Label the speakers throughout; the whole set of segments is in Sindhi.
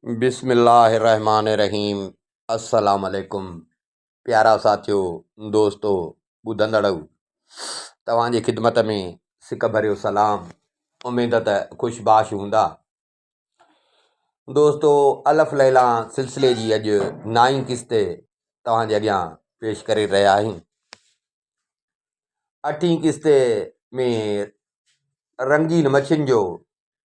Speaker 1: بسم الله الرحمٰن الرحيم السلام عليڪم پيارا ساٿيو دوستو ٻڌندڙ توهان جي خدمت ۾ سڪ ڀريو سلام اميد ته خوش باش هوندا دوستو الف ليلا سلسلي جي اڄ نائين قسط توهان جي اڳيان پيش ڪري رهيا آهيون اٺين قسط ۾ رنگين مڇين جو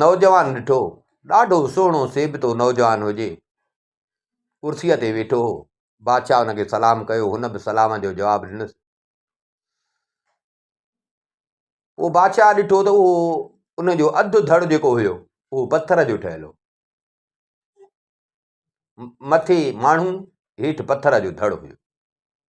Speaker 1: نوجوان ڏٺو، ڏاڍو سهڻو سيبتو نوجوان هجي، ڪرسيء تي ويٺو هو. بادشاهه هن کي سلام ڪيو، هن به سلام جو جواب ڏنس. پوء بادشاهه ڏٺو ته اهو ان جو اڌ ڌڙ جيڪو هيو اهو پٿر جو ٺهيل هو مٿي ماڻهو هيٺ پٿر جو ڌڙ هيو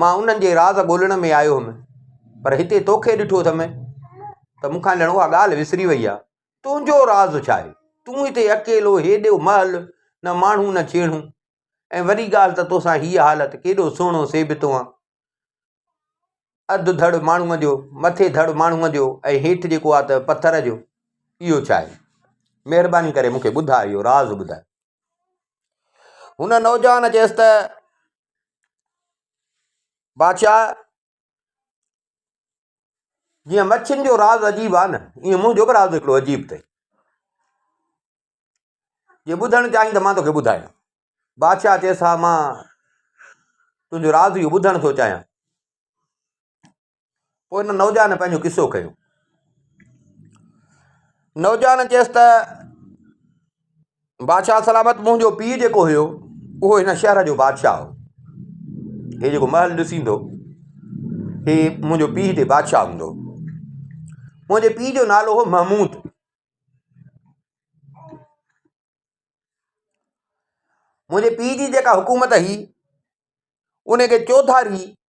Speaker 1: مان انهن جي راز ڳولڻ ۾ آيو هئم، پر هتي توکي ڏٺو اٿم ته مون کان ڄڻ اها ڳالهه وسري وئي آهي. تنهنجو راز ڇا آهي؟ تون هتي اڪيلو هيڏو مهل، نه ماڻهو نه ڇيڻو، ۽ وري ڳالهه ته توسان هيء حالت ڪيڏو سهڻو سيبتو آهن، اڌ ڌڙ ماڻهوء جو، مٿي ڌڙ ماڻهوء جو ۽ هيٺ جيڪو آهي ته پٿر جو، اهو ڇا آهي؟ مهرباني ڪري مون کي ٻڌاء، اهو راز ٻڌاء. هن نوجوان چيس ته بادشاهه جيئن مڇين جو راز عجيب آهي نه ائين منهنجو به راز هڪڙو عجيب اٿئي جي ٻڌڻ چاهين ته مان توکي ٻڌايان بادشاهه چيس ها مان تنهنجو راز اهو ٻڌڻ ٿو چاهيان پوء ان نوجوان پنهنجو قصو ڪيو. نوجوان چيس ته بادشاهه سلامت منهنجو پيء جيڪو هيو اهو هن شهر جو بادشاهه هو هي جيڪو محل ڏسيندو هي منهنجو پيء هتي بادشاهه هوندو منهنجي پيء جو نالو هو محمود منهنجي پيء جي جيڪا حڪومت هي ان کي چوڌاري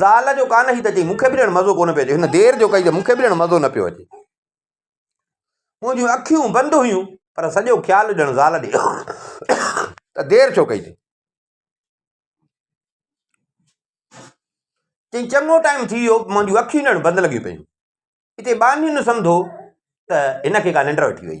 Speaker 1: زال جو ڪانه هي ته چي مونکي به ڄڻ مزو ڪونه پيو اچي هن دير جو ڪئي ته مونکي به ڄڻ مزو نه پيو اچي منهنجون اکيون بند هيون پر سڄو خيال ڄڻ زال ڏي ته دير ڇو ڪئي تي چڱو ٽائيم ٿي ويو منهنجون اکيون ڄڻ بند لڳيون پيون هتي ٻانهين سمجھو ته هن کي ڪا ننڊ وٺي وئي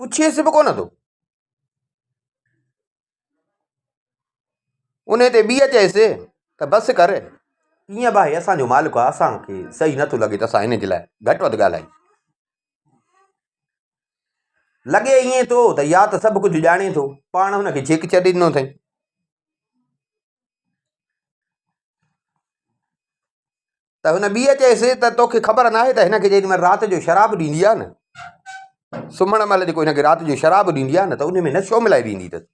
Speaker 1: پڇيس به ڪونه ٿو ان تي ٻيء چيس ته بس ڪر ڪيئن به اسانجو مالڪ آ اسانکي صحيح نٿو لڳي ته اسان انجي لاء گهٽ وڌ ڳالهايون لڳي ائين ٿو ته يا ته سڀ ڪجهه ڄاڻي ٿو پاڻ هنکي جيڪ ڇڏي ڏنو اٿئي ته هن ٻيء چيس ته توکي خبر ناهي ته هن کي جيڏي مهل رات جو شراب ڏيندي آهي نه، سمهڻ مهل جيڪو هن کي رات جو شراب ڏيندي آهي نه ته ان ۾ نشو ملائي ڏيندي اٿس.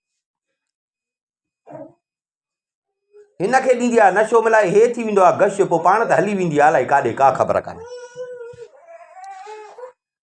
Speaker 1: هن کي ڏيندي آهي نشو ملائي هي ٿي ويندو آهي گش، پوء پاڻ ته هلي ويندي آهي الائي ڪاڏي ڪا خبر ڪانهي.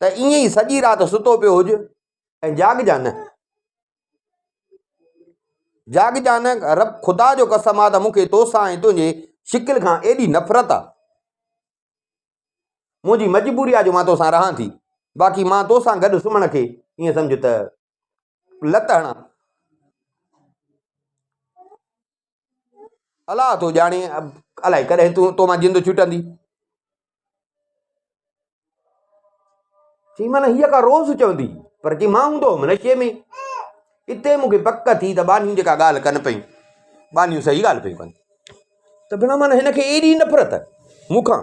Speaker 1: ته ائين ئي سڄي رات ستو پيو هج ۽ جاڳجان نه. جاڳجان نه، رب خدا جو قسم آ ته مون کي تو سان ۽ تنهنجي شڪل کان ايڏي نفرت آ. منهنجي مجبوري آ جو مان تو سان رهان ٿي، باقي مان تو سان گڏ سمهڻ کي ائين سمجهه ته لت هڻان. الاء ٿو ڄاڻي الائي ڪڏهن تون تو مان جند ڇٽندي چي من هيء ڪا روز چوندي پر چي مان هوندو هوم نشي ۾ اتي مونکي پڪ ٿي ته ٻانهيون جيڪا ڳالهه ڪن پيون ٻانهيون صحيح ڳالهه پيون ڪن ته بنا من هن کي ايڏي نفرت مونکان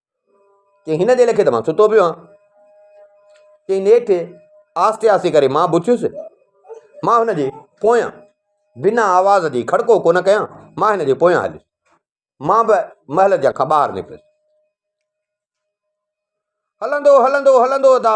Speaker 1: چيائين هن ديل کي ته مان ستو پيو آهيان چيائين نيٺ آهستي آهستي ڪري مان به اٿيس مان هن جي پويان بنا آواز جي کڙڪو ڪو نه ڪيان مان هن جي پويان هليس مان به محل جا کان ٻاهر نڪريس هلندو هلندو هلندو ادا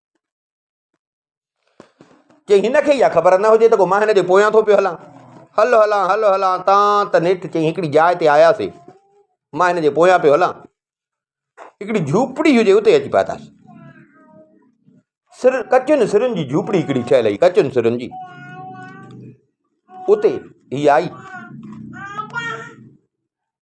Speaker 1: چيائين هن کي اها خبر نه هجي ته مان هن جي پويان ٿو پيو هلان هل هلان هل هلان تان ته نيٺ چيائين هڪڙي جاء تي آياسي مان هن جي پويان پيو هلان هڪڙي جھوپڙي هجي اتي اچي پاتاسي سر ڪچن سرن جي جھوپڙي هڪڙي ٺهيل هئي ڪچن سرن جي اتي هي آئي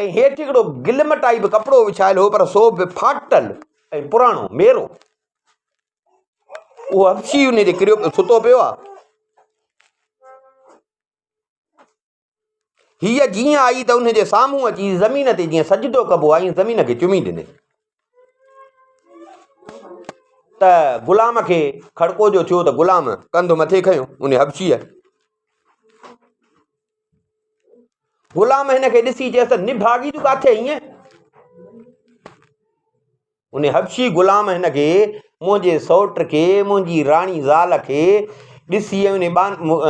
Speaker 1: ۽ هيٺ هڪڙو گلم ٽائيپ ڪپڙو وڇايل هو پر سو به ڦاٽل ۽ پراڻو ميرو اهو حبشي ان تي ڪريو سٿو پيو آهي هيء جيئن آئي ته ان جي سامهون اچي زمين تي جيئن سجدو ڪبو آهي زمين کي چمي ڏني ته غلام کي کڙڪو جو ٿيو ته غلام ڪنڌ مٿي کنيو ان حبشي غلام هن کي ڏسي چيس ته نڀاڳي تون ڪاٿي ائين ان حبشي غلام هن کي، منهنجي سئوٽ کي، منهنجي راڻي زال کي، ڏسي ۽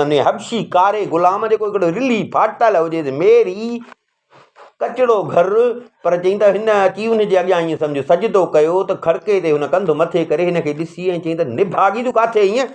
Speaker 1: ان حبشي ڪاري غلام جيڪو هڪڙو رلهي ڦاٽل هجيس ميري ڪچڙو گهر پر چئين ته هن اچي ان جي اڳيان ائين سمجهه سجدو ڪيو ته کڙڪي تي هن ڪنڌ مٿي ڪري هن کي ڏسي ۽ چئين ته نڀاڳي تون ڪاٿي ائين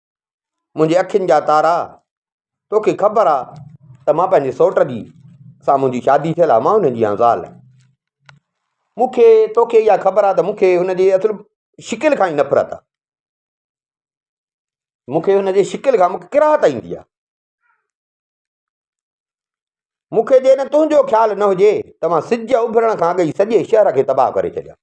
Speaker 1: منهنجي اکين جا تارا توکي خبر آ ته مان پنهنجي سوٽ جي سان منهنجي شادي ٿيل آ مان ان جي آ زال مونکي توکي اها خبر آ ته مونکي ان جي اصل شڪل کان ئي نفرت آ مونکي ان جي شڪل کان مونکي ڪراهت ايندي آ مونکي جي نه تنهنجو خيال نه هجي ته مان سج اڀرڻ کان اڳ ئي سڄي شهر کي تباهه ڪري ڇڏيان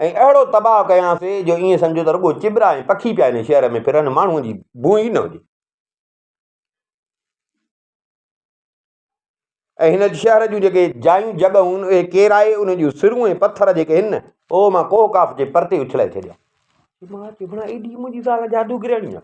Speaker 1: ۽ اهڙو تباهه ڪيانسين جو ائين سمجهو ته رڳو چٻرا ۽ پکي پيا هن شهر ۾ ڦرن ماڻهوء جي بوء ئي نه هجي ۽ هن شهر جون جيڪي جايون جڳهون اهي ڪيرائي ان جون سرون ۽ پٿر جيڪي آهن نه اهو مان ڪوه ڪاف جي پرتي اڇلائي ڇڏيا مان چيو ڀلا ايڏي منهنجي زال جادوگرياڻي آهي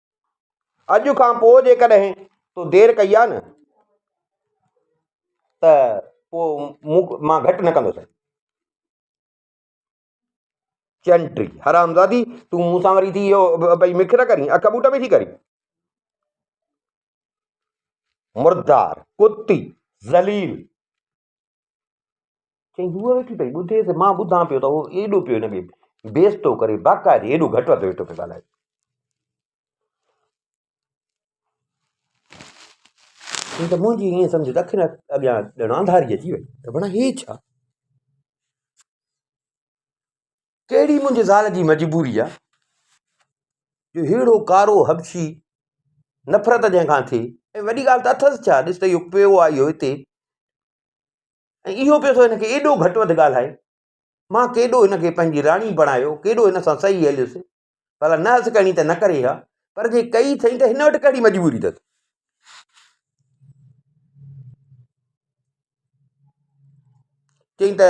Speaker 1: اڄ کان پوء جيڪڏهن تو دير ڪئي آ نه ته پوء مان گهٽ نه ڪندو سائين چنٽي حرامزادي تون مون سان وري ٿي اهو پئي مکر ڪرين اک بوٽ پئي ٿي ڪرين مردار ڪتي ذليل چيائين، هوء ويٺي پئي ٻڌي ته مان ٻڌان پيو ته هو ايڏو پيو هن کي بي عزتو ڪري، باقاعدي ايڏو گهٽ وڌ ويٺو پيو ڳالهائي. چيائين ته منهنجي ائين سمجهه ته اکين اڳيان ڄڻ انڌاري اچي وئي ته بڻا هي ڇا؟ ڪهڙي منهنجي زال جي مجبوري آ جو ههڙو ڪارو حبشي نفرت جنهن کان ٿي ۽ وڏي ڳالهه ته اٿس ڇا ڏس ته اهو پيو آيو هتي ۽ اهو پيو ٿو هن کي ايڏو گهٽ وڌ ڳالهائي ماں ڪيڏو هن کي پنهنجي راڻي بڻايو ڪيڏو هن سان صحيح هليس ڀلا نه هس ڪرڻي ته نه ڪري ها پر جي ڪئي اٿئي ته هن وٽ ڪهڙي مجبوري اٿس چئي ته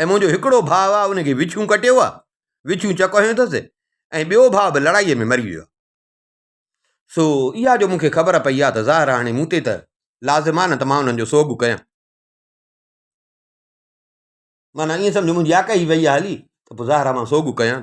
Speaker 1: ۽ منهنجو هڪڙو ڀاء آهي ان کي وڇون ڪٽيو آهي وڇون چڪ هنيو اٿس ۽ ٻيو ڀاء به لڙائيء ۾ مري ويو آهي سو اها جو مونکي خبر پئي آهي ته ظاهر آهي هاڻي مون تي ته لازم آهي نه ته مان انهن جو سوڳ ڪيان معنيٰ ائين سمجهو منهنجي آڪهه ئي وئي آهي هلي ته پوء ظاهر آهي مان سوڳ ڪيان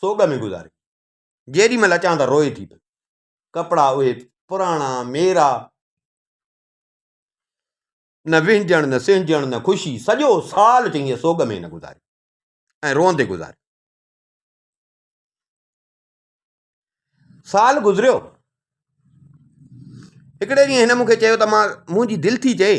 Speaker 1: سوڳ ۾ گذاري. جيڏي مھل اچان ته روئي ٿي پئي. ڪپڙا اھي پراڻا ميرا. نه وھنجڻ نه سھنجڻ نه خوشي. سڄو سال چڱيء سوڳ ۾ ھن گذاري ۽ روئندي گذاري. سال گذريو. ھڪڙي ڏينھن ھن مون کي چيو ته مان منھنجي دل ٿي چئي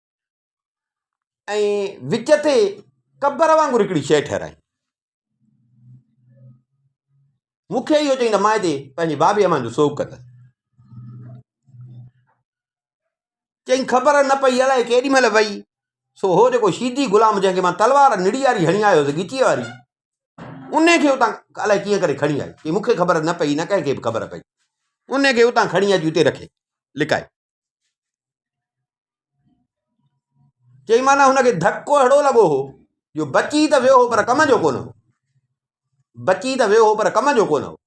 Speaker 1: ۽ وچ تي قبر وانگر هڪڙي شيء ٺهرائي مون کي اهو چئي ته مائدي پنهنجي بابي امان جو سوڳ ڪندس چئي خبر نه پئي الائي ڪيڏي مهل وئي سو هو جيڪو شيدي غلام جنهنکي مان تلوار نڙي واري هڻي آيو هوس ڳچيء واري ان کي اتان الائي ڪيئن ڪري کڻي آئي چي مونکي خبر نه پئي نه ڪنهن کي به خبر پئي ان کي اتان کڻي اچي اتي رکي لڪائي چئي معنی هن کي ڌڪو اهڙو لڳو هو جو بچي ته ويو هو پر ڪم جو ڪونه هو بچي ته ويو هو پر ڪم جو ڪونه هو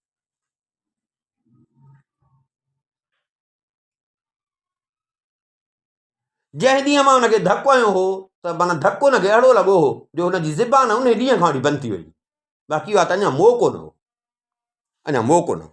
Speaker 1: جنهن ڏينهن مان هن کي ڌڪ هنيو هو ته مانا ڌڪ هن کي اهڙو لڳو هو جو هن جي زبان ان ڏينهن کان وٺي بند ٿي وئي باقي اها ته اڃا موقعو نه هو اڃا موقعو نه هو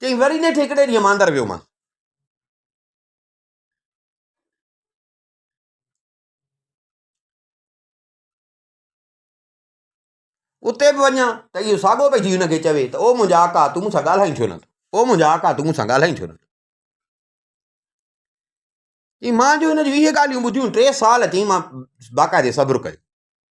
Speaker 1: چيائين وري نيٺ هڪڙي ڏينهن ماندر ويو مان اتي به وڃان ته اهو ساڳو پئي ٿي هن کي چوي ته او منهنجا آقا تون مون سان ڳالهائي ڇو نٿو او منهنجا آقا تون مون سان ڳالهائي ڇو نٿو چي مان جو هن جون ويهه ڳالهيون ٻڌيون ٽي سال چي مان باقاعدي صبر ڪيو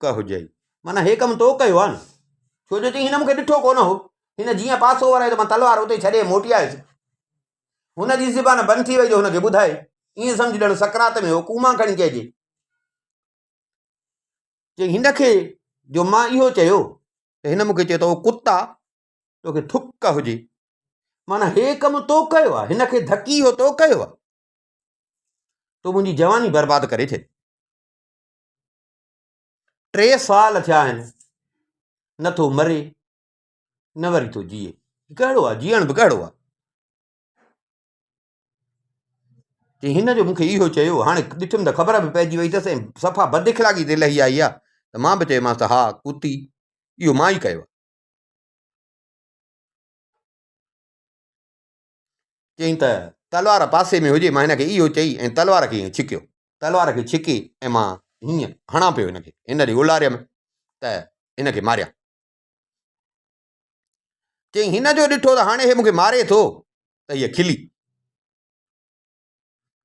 Speaker 1: ٿڪ هجئي. معنيٰ هي ڪم تو ڪيو آهي نه؟ ڇو جو چيائين، هن مون کي ڏٺو ڪونه هو. هن جيئن پاسو ورايو ته مان تلوار اتي ئي ڇڏي موٽي آيس. هن جي زبان بند ٿي وئي جو هن کي ٻڌائي. ائين سمجهه ڄڻ سڪرات ۾ هو ڪوما کڻي چئجي. چيائين، هن کي جو مان اهو چيو ته هن مون کي چيو ته او ڪتا! تو کي ٿڪ هجي. معنيٰ هي ڪم تو ڪيو آهي. هن کي ڌڪي اهو تو ڪيو آهي. تو منهنجي جواني برباد ڪري ڇڏي. ٽي سال ٿيا آهن نه ٿو مري نه وري ٿو جيئي ڪهڙو آهي جيئڻ به ڪهڙو آهي چي هن جو مونکي اهو چيو هاڻي ڏٺم ته خبر به پئجي وئي اٿس ۽ صفا بد اخلاقي تي لهي آئي آهي ته مان به چيمانس ته ها ڪوتي اهو مان ئي ڪيو آهي چيائين ته، تلوار پاسي ۾ هجي. مان هن کي اهو چئي ۽ تلوار کي ائين ڇڪيو. تلوار کي ڇڪي ۽ مان هيئن هڻان پيو هن کي، هن ڏي اولاريم ته هن کي ماريان. چيائين، هن جو ڏٺو ته هاڻي هي مون کي ماري ٿو ته هيء کلي.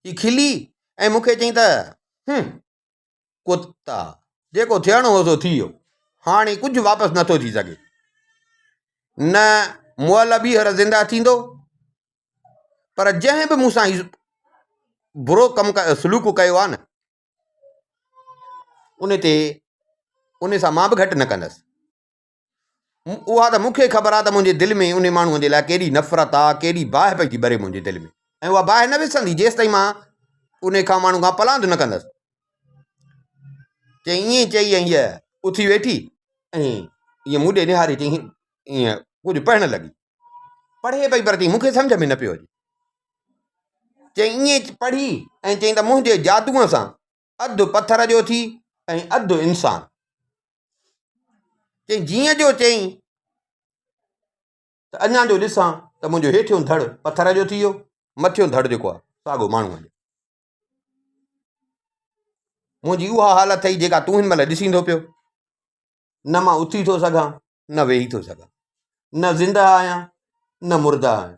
Speaker 1: هي کلي ۽ مون کي چيائين ته، هنم! ڪتا. جيڪو ٿيڻو هو سو ٿي ويو. هاڻي ڪجهه واپس نه ٿو ٿي سگهي. نه مئل ٻيهر زنده ٿيندو. پر جنهن به مون سان هي برو ڪم سلوڪ ڪيو آهي نه ان تي ان سان مان به گهٽ نه ڪندس. اها ته مون کي خبر آ ته منهنجي دل ۾ انهي ماڻهوء جي لاء ڪيڏي نفرت آ، ڪيڏي باهه پئجي ٻري منهنجي دل ۾، ۽ اها باهه نه وسندي جيستائين مان انهي کان ماڻهو کان پلاند نه ڪندس. چيائين ائين چئي ۽ هيء اٿي ويٺي ۽ ائين مون ڏي نهاري چيائين ائين ڪجهه پڙهڻ لڳي. پڙهي پئي پر چيائين مون کي سمجهه ۾ نه پيو اچي. چيائين ائين پڙهي ۽ چيائين ته منهنجي جادوء سان اڌ پٿر جو ٿي ۽ اڌ انسان. چيائين جيئن جو چيائين ته اڃا جو ڏسان ته منهنجو هيٺيون ڌڙ پٿر جو ٿي ويو مٿيون ڌڙ جيڪو آهي ساڳو ماڻهوء جو منهنجي اها حالت اٿئي جيڪا تون هن مهل ڏسين ٿو پيو نه مان اٿي ٿو سگهان نه ويهي ٿو سگهان نه زندهه آهيان نه مرده آهيان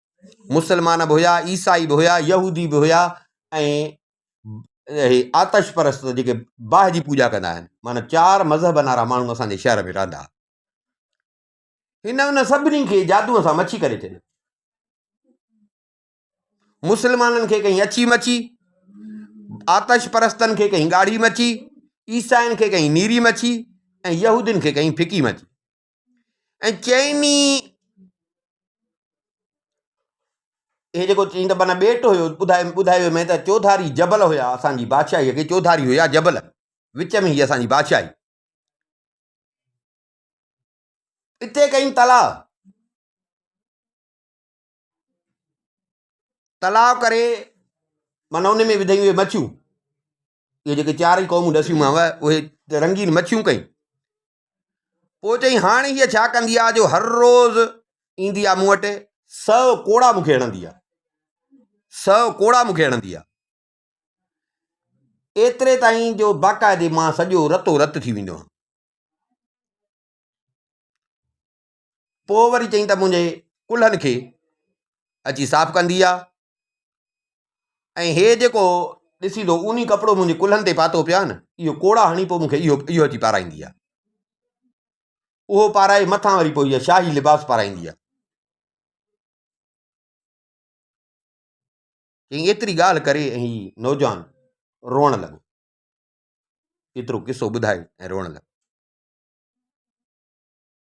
Speaker 1: مسلمان به هيا عيسائي به هيا يهودي به هيا ۽ آتش پرست جيڪي باهه جي پوڄا ڪندا آهن مانا چار مذهبن وارا ماڻهو اسان جي شهر ۾ رهندا هئا هن ان سڀني کي جادو سان مڇي ڪري ڇڏيو مسلمانن کي ڪئي اڇي مڇي آتش پرستن کي ڪئي ڳاڙهي مڇي عيسائين کي ڪئي نيري مڇي ۽ يهودين کي ڪئي ڦڪي مڇي ۽ چئن ئي هي جيڪو چئين ته معنيٰ ٻيٽ هيو ٻڌايو ٻڌايو مين ته چوڌاري جبل هيا اسان جي بادشاهيء کي چوڌاري هيا جبل وچ ۾ هي اسان جي بادشاهي اتي ڪئين تلاء تلاء ڪري معنيٰ ان ۾ وڌيون هي مڇيون اهي جيڪي چارئي قومون ڏسيومانو اهي رنگين مڇيون ڪئي پوء چئي هاڻي هيء ڇا ڪندي آ جو هر روز ايندي آ مون وٽ سو ڪوڙا مونکي هڻندي آ سو ڪوڙا مونکي هڻندي آ ايتري تائين جو باقاعدي مان سڄو رتو رت ٿي ويندو آهيان پوء وري چيائين ته منهنجي ڪلهن کي اچي صاف ڪندي آ ۽ هي جيڪو ڏسين ٿو اوني ڪپڙو منهنجي ڪلهن تي پاتو پيو آ نه اهو ڪوڙا هڻي پوء مونکي اهو اهو اچي پارائيندي آ اهو پارائي مٿان وري پوء هيء شاهي لباس پارائيندي آ چيائين ايتري ڳالهه ڪري ۽ هي نوجوان روئڻ لڳو ايترو قصو ٻڌائي ۽ روئڻ لڳو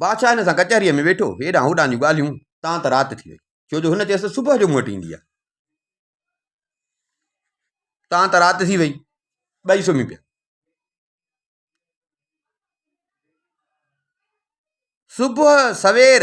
Speaker 1: بادشاهه هن سان ڪچهريء ۾ ويٺو، هيڏانهن هوڏانهن جون ڳالهيون، تان ته رات ٿي وئي، ڇو جو هن چيس ته صبح جو مون وٽ اينديء. تان ته رات ٿي وئي، ٻئي سمهي پيا. صبح سوير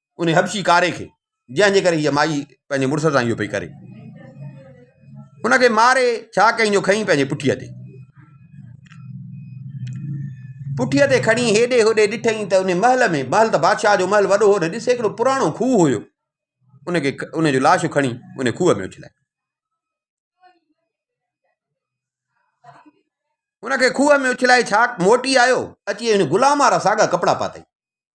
Speaker 1: انهي حبشي ڪاري کي جنهن جي ڪري هيء مائي پنهنجي مڙس سان اهو پئي ڪري. ان کي ماري ڇا ڪيائين جو کنئي پنهنجي پٺيء تي. پٺيء تي کڻي هيڏي هوڏي ڏٺئين ته انهي محل ۾، محل ته بادشاهه جو محل وڏو هو نه، ڏس هڪڙو پراڻو کوهه هيو. ان کي ان جو لاش کڻي انهي کوهه ۾ اڇلايائين. ان کي کوهه ۾ اڇلائي ڇا موٽي آيو، اچي انهي غلام وارا ساڳا ڪپڙا پاتائين.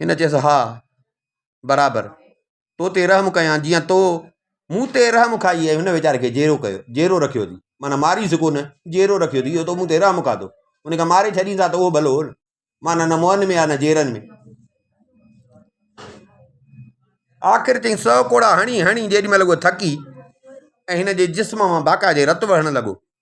Speaker 1: هن چيس، ها، برابر، تو تي رحم ڪيان جيئن تو مون تي رحم کائي ۽ هن ويچاري کي جيرو ڪيو، جيرو رکيو اٿئي، معنيٰ ماريس ڪو نه، جيرو رکيو اٿئي، اهو تو مون تي رحم کاڌو، ان کي ماري ڇڏينس ها ته اهو ڀلو هو نه، معنيٰ نه موهن ۾ ها نه جيرن ۾. آخر چئين، سؤ ڪوڙا هڻي هڻي جيڏي مهل هوء ٿڪي ۽ هن جي جسم مان باقاعدي رت وهڻ لڳو،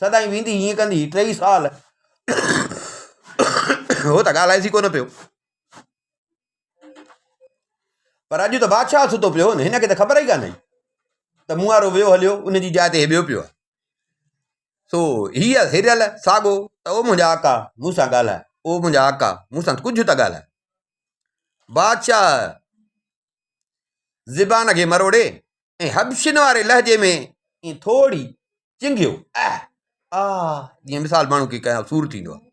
Speaker 1: سدائين ويندي هيئن ڪندي ٽيئي سال هو ته ڳالهائجي ڪونه پيو پر اڄ ته بادشاهه ستو پيو هن کي ته خبر ئي ڪانه ته مون وارو ويو هليو ان جي جاء تي ٻيو پيو سو هيء هريل ساڳو ته او منهنجا آقا مون سان ڳالهاء او منهنجا آقا مون سان ڪجهه ته ڳالهاء بادشاهه زبان کي مروڙي ۽ حبشين واري لهجي ۾ ائين ٿورڙي چنگهيو، اح! آ! جيئن مثال ماڻهو کي ڪنهن سور ٿيندو آهي.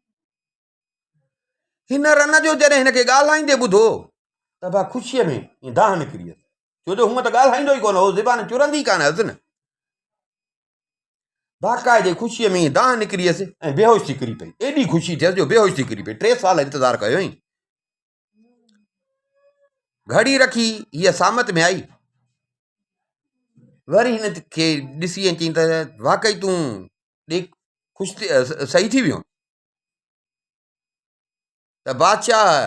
Speaker 1: هن رن جو جڏهن هن کي ڳالهائيندي ٻڌو ته ڀا خوشيء ۾ ائين دانهن نڪري ويس، ڇو جو هونئن ته ڳالهائيندو ئي ڪونه هو، زبان چرندي ئي ڪانه هيس نه. باقاعدي خوشيء ۾ ائين دانهن نڪري ويس ۽ بيهوش ٿي ڪري پئي. ايڏي خوشي ٿيس جو بيهوش ٿي ڪري پئي. ٽي سال انتظار ڪيو هئائين. گهڙي رکي هيء سامت ۾ آئي وري هن کي ڏسي ۽ چيائين ته واقعي تون ڏيک خوش ٿي سهي ٿي ويو ته بادشاهه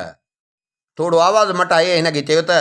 Speaker 1: ٿورو آواز مٽائي هن کي چيو ته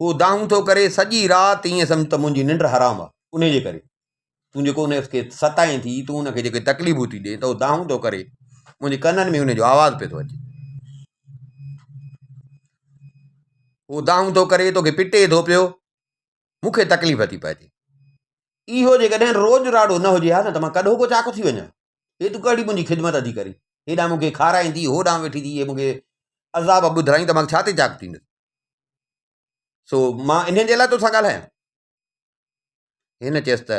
Speaker 1: هو دانهون ٿو ڪري سڄي رات ائين سمجهه ته منهنجي ننڊ حرام آهي ان جي ڪري تون جيڪو ان کي ستائين ٿي تون ان کي جيڪي تڪليفون ٿي ڏي ته هو دانهون ٿو ڪري منهنجي ڪنن ۾ ان جو آواز پئي ٿو اچي هو دانهون ٿو ڪري توکي پٽي ٿو پيو مون کي تڪليف ٿي پئي ٿي اهو جيڪڏهن روز راڙو نه هجي ها نه ته مان ڪڏهو ڪو چاڪ ٿي وڃان هي تون ڪهڙي منهنجي خدمت ٿي ڪرين هيڏانهن مون کي کارائين ٿي هوڏانهن ويٺي ٿي مون کي عذاب ٻڌرائين ته مان ڇا تي چاڪ ٿيندس سو مان انهن جي لاء تون سان ڳالهايان هن چيس ته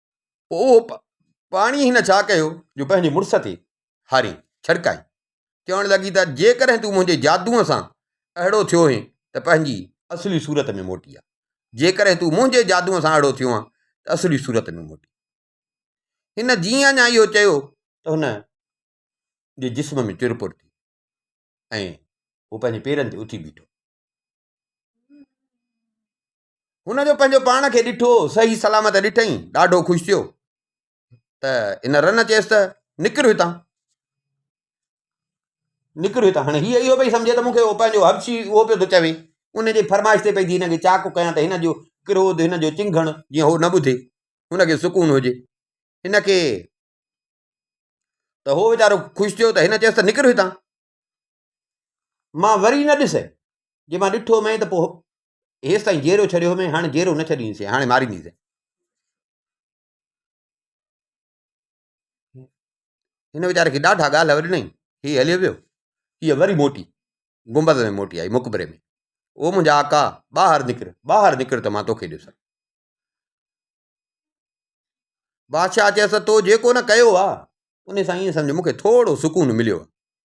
Speaker 1: اهو پاڻي هن ڇا ڪيو جو پنهنجي مڙس تي هاري ڇڙڪائي چوڻ لڳي ته جيڪڏهن تون منهنجي جادوء سان اهڙو ٿيو هين ته پنهنجي اصلي صورت ۾ موٽي آ جيڪڏهن تون منهنجي جادوء سان اهڙو ٿيو هان ته اصلي صورت ۾ موٽي هن جيئن اڃا اهو چيو ته هن جي جسم ۾ چر پور ٿي ۽ هو پنهنجي پيرن تي اٿي بيٺو هن جو پنهنجو پاڻ کي ڏٺو صحيح سلامت ڏٺئين ڏاڍو خوش ٿيو ته ان رن چيس ته نڪر هتان نڪر هتان هاڻي هي اهو پئي سمجهي ته مون کي اهو پنهنجو حبشي اهو پيو ٿو چوي ان جي فرمائش تي پئي ٿي هن کي چاڪ ڪيان ته هن جو ڪروڌ هن جو چنگهڻ جيئن هو نه ٻڌي هن کي سڪون هجي هن کي ته هو ويچارو خوش ٿيو ته هن چيس ته نڪر هتان مان وري نه ڏسئين، جي مان ڏٺو هئمئين ته پوء هيس تائين جيئرو ڇڏيو هئمئين، هاڻي جيئرو نه ڇڏيندينسين، هاڻي ماريندينسين. هن ويچاري کي ڏاڍا ڳالهه وڏنائين، هي هليو ويو. هيء وري موٽي، گنبذ ۾ موٽي آئي، مقبري ۾، او منهنجا آقا، ٻاهر نڪر، ٻاهر نڪر ته مان توکي ڏسان. بادشاهه چيس ته تو جيڪو نه ڪيو آ، ان سان ائين سمجهه مون کي ٿورو سڪون مليو آ.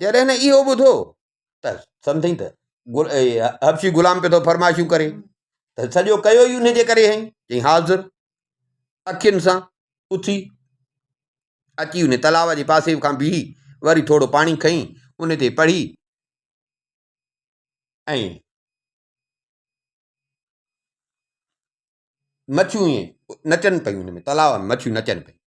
Speaker 1: جڏهن هن اهو ٻڌو ته سمجهين ته حبشي غلام پيو ٿو فرمائشون ڪري ته سڄو ڪيو ئي ان جي ڪري هئي چي حاضر اکين سان اٿي اچي ان تلاو جي پاسي کان بيهي وري ٿورو پاڻي کئي ان تي پڙهي ۽ مڇيون ائين نچن پيون ان ۾ تلاو ۾ مڇيون نچن پيون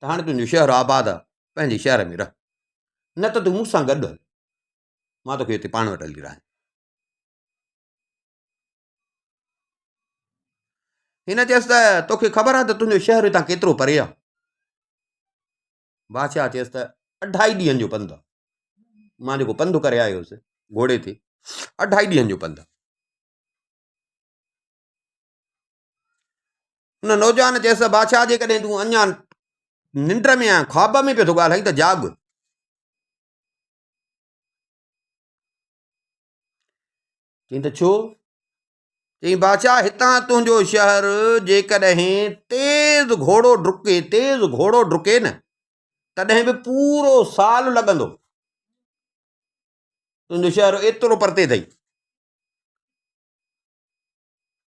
Speaker 1: ته هاڻي تنهنجو شهر آباد آ، پنهنجي شهر ۾ رهه، نه ته تون مون سان گڏ هل، مان توکي هتي پاڻ وٽ هلي رهاين. هن چيس ته توکي خبر آ ته تنهنجو شهر هتان ڪيترو پري آ؟ بادشاهه چيس ته اڍائي ڏينهن جو پنڌ آ، مان جيڪو پنڌ ڪري آيو هوس گهوڙي تي، اڍائي ڏينهن جو پنڌ آ. ان نوجوان چيس ته بادشاهه جيڪڏهن تون اڃا ننڊ ۾ آهي خواب ۾ پيو ٿو ڳالهائين ته جاڳ چي ته ڇو چي بادشاهه هتان تنهنجو شهر جيڪڏهن تيز گهوڙو ڊڪي تيز گهوڙو ڊڪي نه تڏهن به پورو سال لڳندو تنهنجو شهر ايترو پرتي اٿئي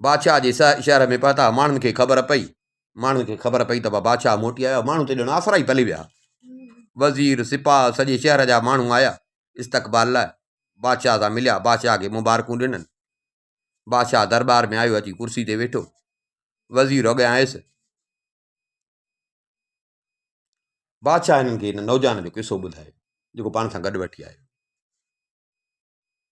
Speaker 1: بادشاهه جي سهه شهر ۾ پهتا، ماڻهن کي خبر پئي، ماڻهن کي خبر پئي ته بادشاهه موٽي آيو، ماڻهو تي ڄڻ آسرا ئي پلي ويا، وزير، سپاهه، سڄي شهر جا ماڻهو آيا استقبال لاء، بادشاهه سان مليا، بادشاهه کي مبارڪون ڏنن، بادشاهه درٻار ۾ آيو، اچي ڪرسي تي ويٺو، وزير اڳيان آيس، بادشاهه هنن کي هن نوجوان جو قصو ٻڌايو، جيڪو پاڻ سان گڏ وٺي آيو.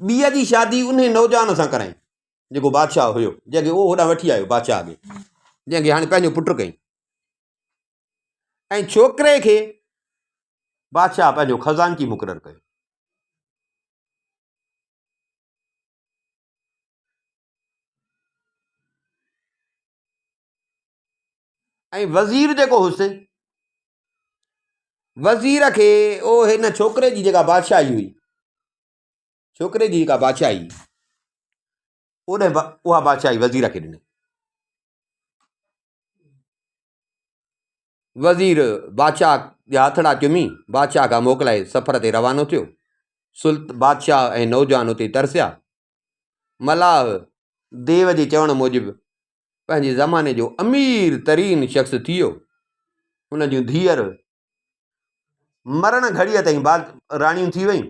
Speaker 1: ٻيء جي شادي انهي نوجوان سان ڪرائين جيڪو بادشاهه هيو جنهن کي اهو هوڏانهن وٺي آيو بادشاهه اڳي جنهن کي هاڻي پنهنجو پٽ ڪئي ۽ ڇوڪري کي بادشاهه پنهنجو خزانچي مقرر ڪيو ۽ وزير جيڪو هوس، وزير کي او هن ڇوڪري جي جيڪا بادشاهي هئي، ڇوڪري جي جيڪا بادشاهي ان اها بادشاهي وزير کي ڏني. وزير بادشاهه جا هٿڙا چمي بادشاهه کان موڪلائي سفر تي روانو ٿيو سلط بادشاهه ۽ نوجوان اتي ترسيا ملاح ديو جي چوڻ موجب پنهنجي زماني جو امير ترين شخص ٿيو هن جون ڌيئر مرڻ گهڙيء تائين با راڻيون ٿي ويون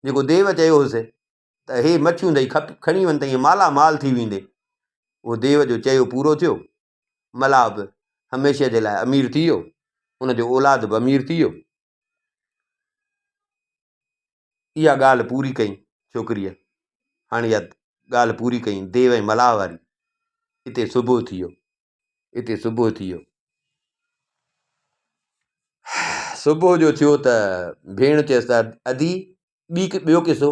Speaker 1: جيڪو ديو چيو هوس ته هي مڇيون ٿئي کپ کڻي وڃ تائين مالا مال ٿي ويندي اهو ديو جو چيو پورو ٿيو ملاح به هميشه جي لاء امير ٿي ويو، ان جو اولاد به امير ٿي ويو. اها ڳالهه پوري ڪئي ڇوڪريء. هاڻي اها ڳالهه پوري ڪئي ديو ۽ ملاح واري. اتي صبح ٿي ويو. اتي صبح ٿي ويو. صبح جو ٿيو ته ڀيڻ چيس ته ادي ٻي ڪي ٻيو قصو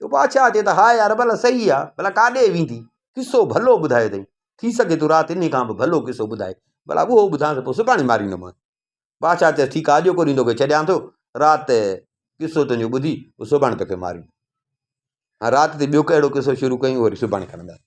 Speaker 1: جو بادشاهه چي ته هاء يار ڀلا صحيح آ ڀلا ڪاڏي ويندي قصو ڀلو ٻڌايو اٿئي ٿي سگهي ٿو رات انهي کان به ڀلو قصو ٻڌائي ڀلا اهو ٻڌانس پوء سڀاڻي ماريندومانس بادشاهه چيس ٺيڪ آ اڄ ڪوريون توکي ڇڏيان ٿو رات قصو تنهنجو ٻڌي پوء سڀاڻي توکي ماريون رات تي ٻيو ڪهڙو قصو شروع ڪيون وري سڀاڻي کڻنداسين